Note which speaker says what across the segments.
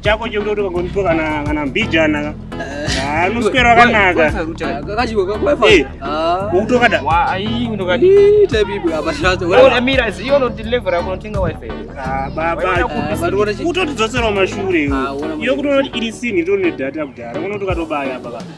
Speaker 1: chako chekuti ukangonzwa kana kana mbijana anoswera akanaka
Speaker 2: ukutokada
Speaker 1: utotidzoserawo mashure iyo kutoona kuti iri sinhi tone data kudhara unotoka tobaya baba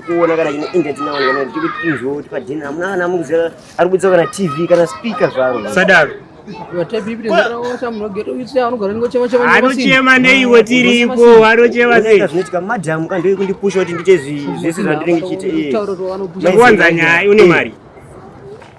Speaker 3: kuona kana chine internet nawo kana kuti tinzwo kuti padhina amuna kana amukuziva ari kudzwa kana tv kana speaker zvaro
Speaker 1: sadaro anochema neiwe tiripo anochema seizvinoitika madhamu ka ndoi
Speaker 3: kundipusha kuti ndiite zvese zvandinenge chiite iye wanza
Speaker 1: nyaya une mari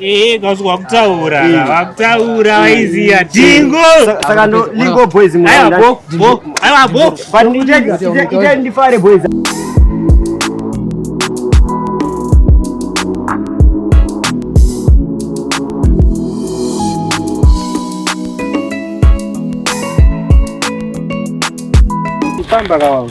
Speaker 3: Eh, kazi wakutaura,
Speaker 1: eh. wakutaura waiziya eh. dingo. Saka ndo
Speaker 3: lingo boys mwana. Ayo bo, bo, ayo bo.
Speaker 1: But ite ite
Speaker 3: ndifare boys.
Speaker 1: Famba kawangu.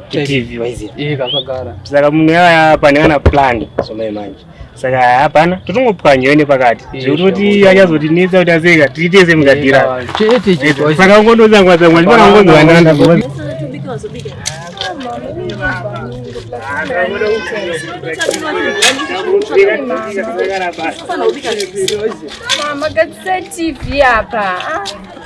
Speaker 1: TV waiziva eh kakagara
Speaker 2: saka munhu yaya
Speaker 1: pane kana plan somai manje saka hapana totongopwanyewe nepakati zvekuti kuti achazotinetsa kuti aseka tiite semugadira chete chete saka ungondozangwazangwa ndipana ungondovanana Mama, got
Speaker 4: TV apa. Ah.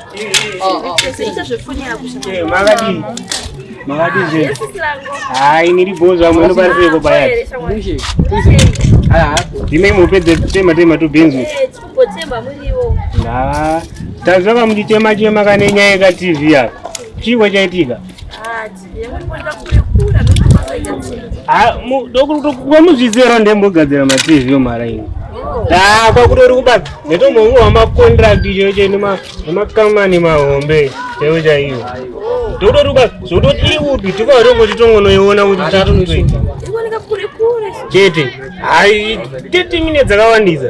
Speaker 1: hayi niri bhozo amwe anokwanisa kubaya ndine mupedze tema tema tubhinzi tanzwa kamuchitema chema kane nyaya yekatv yako chiiko chaitika kwamuzvizero ndembogadzira matv yomhara ini taa kwakutori kubata netomhongo wamacontract chaiwo chai nemakamani mahombe chaiwo chaiwo tokutori kubata zvokutoti iri kupi tikaotongo titongonoiona kuti chatonotoita chete hai 30 minutes dzakawandisa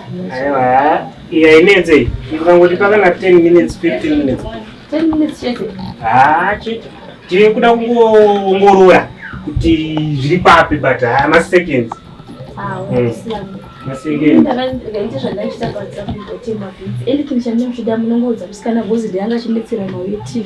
Speaker 4: Aiwa,
Speaker 1: iya inetse iyi. Ukangoti pakana 10 minutes, 15 minutes. 10 minutes chete.
Speaker 4: Ah, chete.
Speaker 1: Tiri kuda kungoongorora kuti zviri papi but ah, ma seconds. Ah, mm. Ma seconds. Ndakaita zvandachita pa
Speaker 4: WhatsApp ndotema. Eli kinisha ndinoshida munongoudza musikana gozi ndianga chimetsera mauye TV.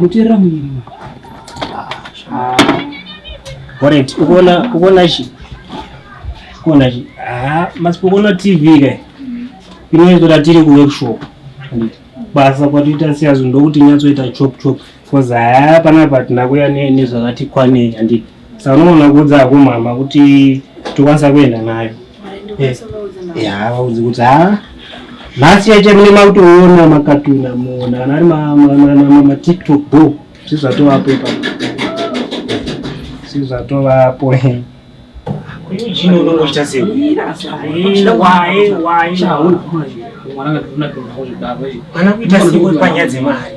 Speaker 2: muterera muviri
Speaker 1: orit ukuona chi kuona chi ah, masipokuona tv ka inoizota tiri kuworkshop basa kwatoita siyazo ndokuti nyatsoita chop chop bcause haya panapa tinakuya nezvakati kwanei handiti Sanoona kuudza hako mama kuti tokwanisa kuenda nayo. Ya, vaudze kuti ha nhasi yacho mune makutoona makatuna muona kana ari ma- ma- ma- ma- ma- matiktok bo zvezvatovapo ipapo zvezvatovapo Eugene unongoita sei? Mwana kuita sei uri panyaya dzemari?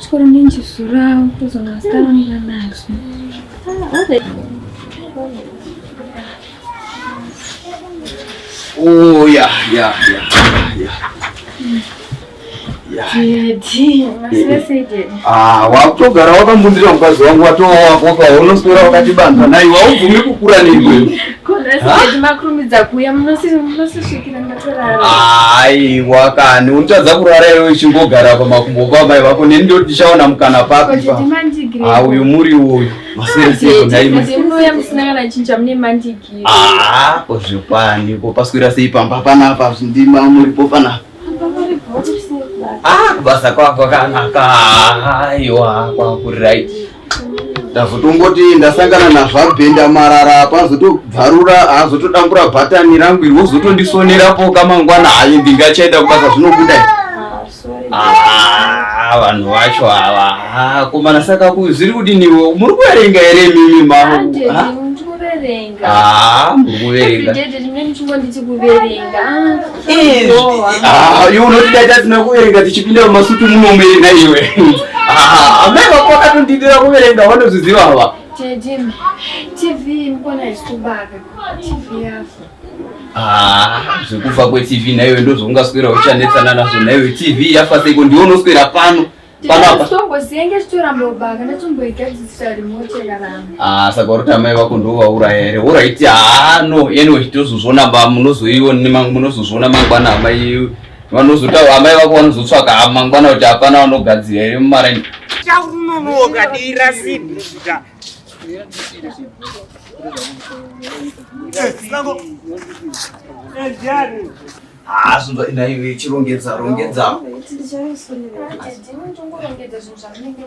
Speaker 5: Sure, I'm just so loud because I'm starting to relax. Oh, yeah,
Speaker 4: yeah, yeah, yeah. Ah, wakutogara
Speaker 6: wakambundira mukadzi wangu watowakoka unoswera wakati banza nai waubvume kukura neimwe
Speaker 4: aiwa
Speaker 6: kani unotadza kurara iwe uchingogara pamakumbo kwamai vako neni ndoti tichaona mukana papi pa uyu muri uyu
Speaker 4: ko zvikwani
Speaker 6: ko paswira sei pamba panapa zvindima muripo panapa kubasa kwako kanaka aiwa kwakurit ndazotongoti ndasangana nazvabhenda marara pazotobvarura hazotodambura bhatani rangu iri wozotondisonerapo kamangwana hayi ndingachaenda kubasa zvinokudai ah, ah, ah, vanhu vacho ava komana saka zviri kudiniwo muri kuverenga here mimi mavo muri kuverenga Ah, iwe unotida tasina kuverenga tichipinda mumasutu munomuenda iwe ah, amai vako vakatondidira kuverenga vanozviziva ava
Speaker 4: ah, zvekufa
Speaker 6: kwetv naiwe ndozvoungaswera uchanetsana nazvo naiwe tv yafa seiko ndiwe unoswera pano
Speaker 4: Ah, saka uri tamai vako
Speaker 6: ndovauraya here oraiti haa no anyway tozozviona ba munozoiona munozozviona mangwana amai vanozotaura amai vako vanozotsvaka mangwana kuti hapana vanogadzira here mumaraini chaunonoka
Speaker 1: dira sibhuta
Speaker 6: Hey, Haa zvinzwa ina iwe chirongedza rongedza. Iti ndichaisonera. Ndiwe ndongorongedza zvinhu zvamunenge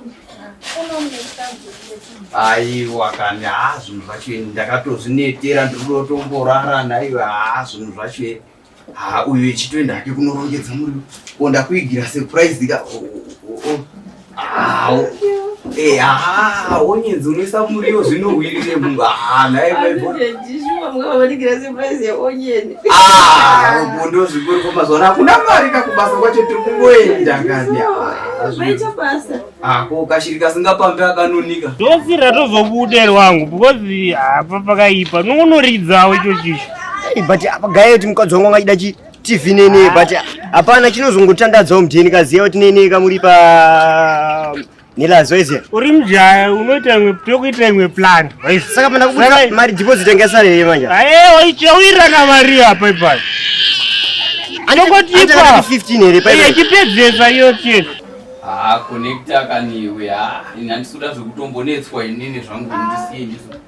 Speaker 6: Aiwa kani haa zvinhu zvacho ini ndakatozvinetera ndiri kutotomborara naiwe haa zvinhu zvacho ere. Haa uyu ichitoenda hake kunorongedza muri. Ko ndakuigira surprise ka. Oh, oh, oh. onyedzi unoisa muriwo zvinohwirire munhu ndo zvikuriko mazona hakuna mari kakubasa kwacho tiri kungoenda ngatiako kashiri kasingapambi akanonika dosi ratozobude
Speaker 1: rwangu because apa pakaipa nokunoridzawo icho chicho but apa
Speaker 3: gaye kuti mukadzi wangu angachida chii TV nene but hapana chinozongotandadzawo mdheni kaziya kuti nene kamuri pa nilazweze uri mjaya
Speaker 1: unoita imwe tokuita imwe plan saka pana kubuda
Speaker 3: mari deposit yanga sare here manje aye waichawirana
Speaker 1: mari apa ipapo anokotipa 15 here pa iye
Speaker 3: chipedzesa iyo
Speaker 1: chete ah connector
Speaker 6: kaniwe ah inandisuda zvekutombonetswa inini zvangu ndisiye ndisu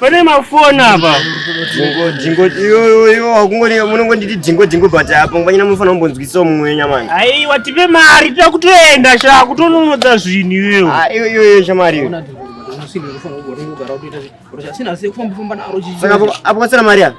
Speaker 1: Pane mafoni apa. Jingo
Speaker 3: jingo iyo iyo akungoni munongonditi jingo jingo but apa ngwanyina mufana mumbonzwisa mumwe nyamani. Ai watipe mari
Speaker 1: tira kutoenda sha kutononodza zvinhu iwewe. Ah iyo iyo iyo shamari.
Speaker 3: Saka apo kwasira mari apa.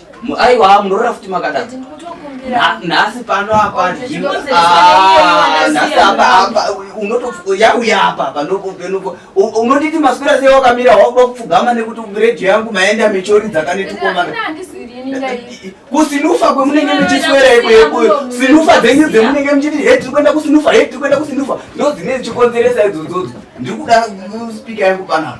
Speaker 3: Aiwa munorora
Speaker 6: futi makadadza. Nhasi pano apa ah, nhasi apa apa yauya apa apa ndokupenuko unoditi maswera sei wakamira wakuda kupfugama nekuti radio yangu maenda mechori dzakanetukomana kusinufa kwemunenge muchiswera ikweyo sinufa dzenyu dzemunenge muchiti he tiri kuenda kusinufa he tiri kuenda kusinufa ndodzine dzichikonzeresa idzodzodzo ndiri kuda spika yangu panapa